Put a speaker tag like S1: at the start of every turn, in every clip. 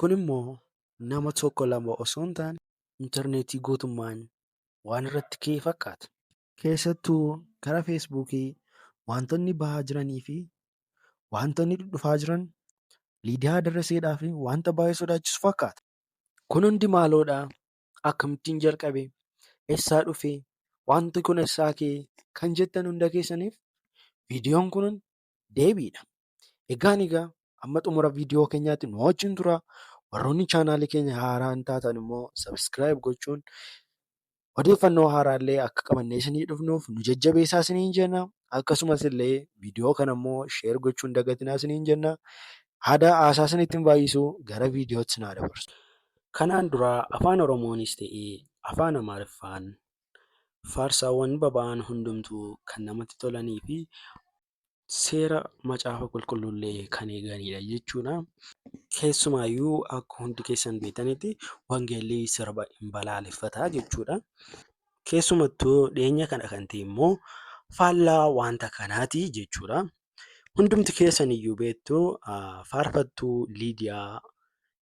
S1: Kun immoo nama tokko lama osoo hin taane interneetii guutummaan waan irratti ka'e fakkaata. Keessattuu gara feesbuukii waantonni bahaa jiranii fi waantonni dhudhufaa jiran Liidiyaa Darraseedhaaf waanta baay'ee sodaachisu fakkaata. Kun hundi maaloodha? Akkamittiin jalqabe? Eessaa dhufe? Waanti kun eessaa ka'e? Kan jettan hunda keessaniif viidiyoon kun deebiidha. Egaan egaa amma xumura viidiyoo keenyaatti nu wajjin tura. Warroonni chaanaalii keenya haaraa hin taatan immoo sabiskiraayib gochuun odeeffannoo haaraa illee akka qabannee isinii dhufnuuf nu jajjabeessaa isiniin jenna. Akkasumas illee viidiyoo kana immoo sheer gochuun dagatinaa isiniin jenna. Haada haasaa isinitti hin baay'isu gara viidiyootti isin haa dabarsu. Kanaan dura afaan Oromoonis ta'ee afaan Amaariffaan faarsaawwan baba'an hundumtuu kan namatti tolanii fi seera macaafa qulqulluullee kan eeganidha jechuudha. Keessumaayyuu akka hundi keessan beektanitti wangeelli sirba hin balaaleffata jechuudha. Keessumattuu dhiyeenya kana kan ta'e immoo faallaa wanta kanaati jechuudha. Hundumti keessan iyyuu beektu faarfattuu Liidiyaa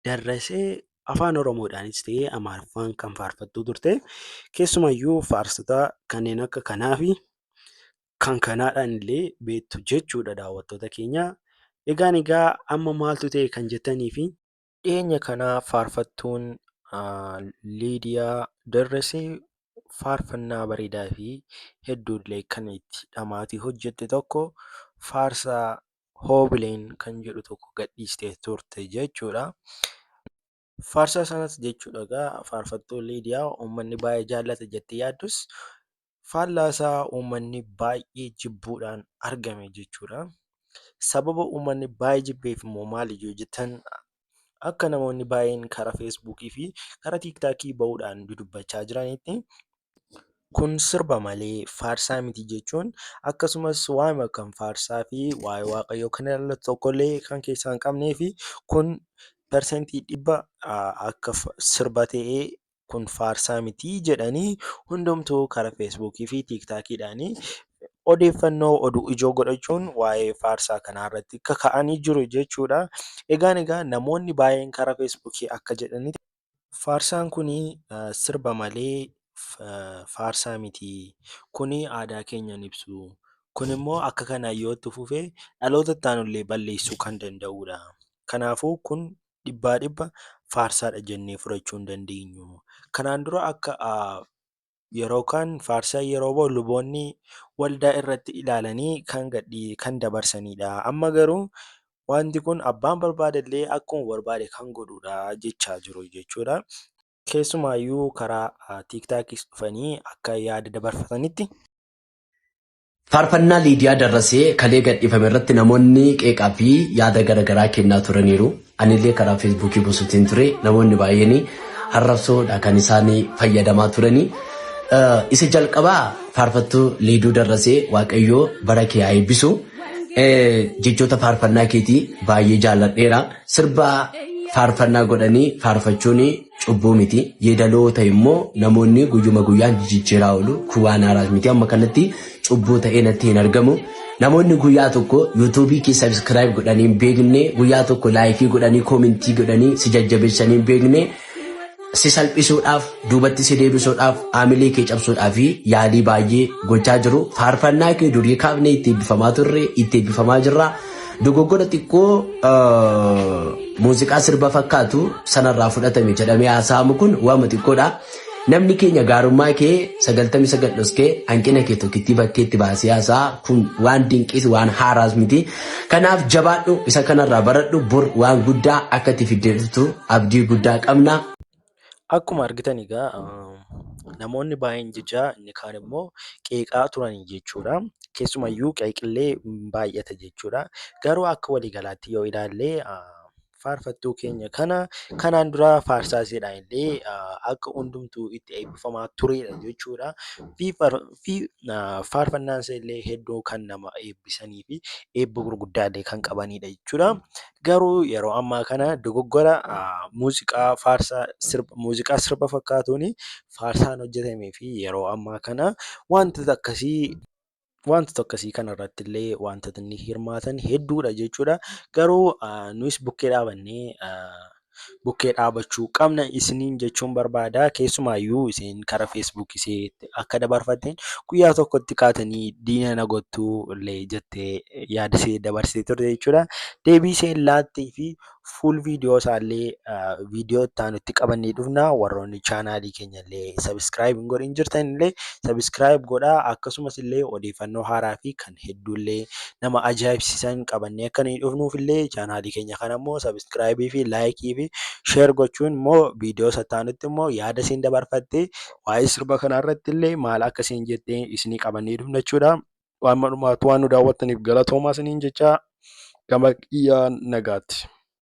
S1: Darrasee afaan Oromoodhaanis ta'ee Amaariffaan kan faarfattuu turte. Keessumayyuu faarsota kanneen akka kanaa fi kan kanaadhaan illee beektu jechuudha daawwattoota keenya. Egaan egaa amma maaltu ta'e kan jettanii fi dhiyeenya kana faarfattuun ah, Liidiyaa Darrasee faarfannaa bareedaa fi hedduullee kan itti dhamaatii hojjette tokko faarsaa Hoobileen kan jedhu tokko gadhiistee turte jechuudha. Faarsaa sanas jechuudha egaa faarfattuu Liidiyaa uummanni baay'ee jaallata jettee yaaddus faallaasaa uummanni baay'ee jibbuudhaan argame jechuudha. Sababa uummanni baay'ee jibbeef immoo maali yoo jettan akka namoonni baay'een karaa feesbuukii fi karaa tiiktaakii ba'uudhaan dudubbachaa jiranitti kun sirba malee faarsaa miti jechuun akkasumas waa'ima kan faarsaa fi waa'ee waaqayyoo kan ilaallatu tokkollee kan keessaa hin qabnee fi kun persentii dhibba akka sirba ta'ee kun faarsaa miti jedhanii hundumtuu karaa feesbuukii fi tiiktaakiidhaan odeeffannoo oduu ijoo godhachuun waa'ee faarsaa kanaa irratti kaka'anii jiru jechuudha. Egaan egaa namoonni baay'een karaa feesbuukii akka jedhanitti faarsaan kun sirba malee faarsaa miti kun aadaa keenya hin ibsu kun immoo akka kanaan yoo itti fufe dhaloota itti aanullee balleessuu kan danda'udha. Kanaafuu kun dhibbaa dhibba faarsaadha jennee fudhachuu hin dandeenyu. Kanaan dura akka yeroo kaan faarsaan yeroo ba'u luboonni waldaa irratti ilaalanii kan gadhii kan dabarsanidha. Amma garuu wanti kun abbaan barbaade illee akkuma barbaade kan godhudha jechaa jiru jechuudha. Keessumaayyuu karaa tiiktaakis dhufanii akka yaada dabarfatanitti. Faarfannaa
S2: Liidiyaa Darrasee kalee gadhiifame irratti namoonni qeeqaa fi yaada garaagaraa kennaa turaniiru. Anillee karaa feesbuukii buusuutiin ture namoonni baay'een harrabsoodha kan isaan fayyadamaa turani. Isa jalqabaa faarfattuu Liiduu Darrasee Waaqayyoo bara kee haa eebbisu. Jechoota faarfannaa keetii baay'ee jaalladheera. Sirba faarfannaa godhanii faarfachuun cubbuu miti. Yeedaloo ta'e immoo namoonni guyyuma guyyaan jijjiiraa oolu. Kun waan haaraas miti. Amma kanatti cubbuu ta'ee natti hin argamu. Namoonni guyyaa tokko yuutuubii kee sabiskiraayib godhanii hin beekne, guyyaa tokko laayikii godhanii koomentii godhanii si jajjabeessanii hin beekne, si salphisuudhaaf, duubatti si deebisuudhaaf, haamilee kee cabsuudhaaf yaalii baay'ee gochaa jiru. Faarfannaa kee durii kaafnee itti eebbifamaa turre, itti eebbifamaa jirra. Dogoggora xiqqoo muuziqaa sirba fakkaatu sanarraa fudhatame jedhamee haasa'amu kun waama xiqqoodha. Namni keenya gaarummaa kee sagaltamii sagal dhoskee hanqina kee tokkittii bakkeetti baasee haasa'a kun waan dinqiis waan haaraas miti. Kanaaf jabaadhu isa kanarraa baradhu bor waan guddaa akka itti fiddeetu abdii guddaa qabna. Akkuma
S1: argitan egaa namoonni baay'een jechaa inni kaan immoo qeeqaa turan jechuudha. Keessumayyuu qeeqillee baay'ata jechuudha. Garuu akka waliigalaatti yoo ilaalle faarfattuu keenya kana kanaan dura faarsaa isheedhaan illee akka hundumtuu itti eebbifamaa turedha jechuudha. Faarfannaan isheellee hedduu kan nama eebbisanii fi eebba gurguddaallee kan qabanidha jechuudha. Garuu yeroo ammaa kana dogoggora muuziqaa faarsaa sirba muuziqaa sirba fakkaatuuni faarsaan hojjetamee fi yeroo ammaa kana wantoota akkasii wantoota akkasii kanarratti illee wantootni hirmaatan hedduudha jechuudha. Garuu nuyis bukkee dhaabannee bukkee dhaabachuu qabna isiniin jechuun barbaada. Keessumaayyuu isin karaa Facebook isee akka dabarfatteen guyyaa tokkotti kaatanii diina na gottuu illee jettee yaada isee dabarsitee turte jechuudha. Deebii isheen laattee fi fuul viidiyoo isaallee viidiyoo itti aanutti qabannee dhufna. Warroonni chaanaalii keenya illee sabiskiraayib hin godhin jirtan illee sabiskiraayib godhaa akkasumas illee odeeffannoo haaraa fi kan hedduullee nama ajaa'ibsiisan qabannee akka nuyi dhufnuuf illee chaanaalii keenya kana immoo sabiskiraayibii fi laayikii fi sheer gochuun immoo viidiyoo sattaanutti immoo yaada isin dabarfattee waa'ee sirba kanaa irratti illee maal akka isin jettee isinii qabannee dhufna jechuudha. Waan malumaatu waan nu daawwattaniif galatoomaa isiniin jechaa gama kiyyaa nagaatti.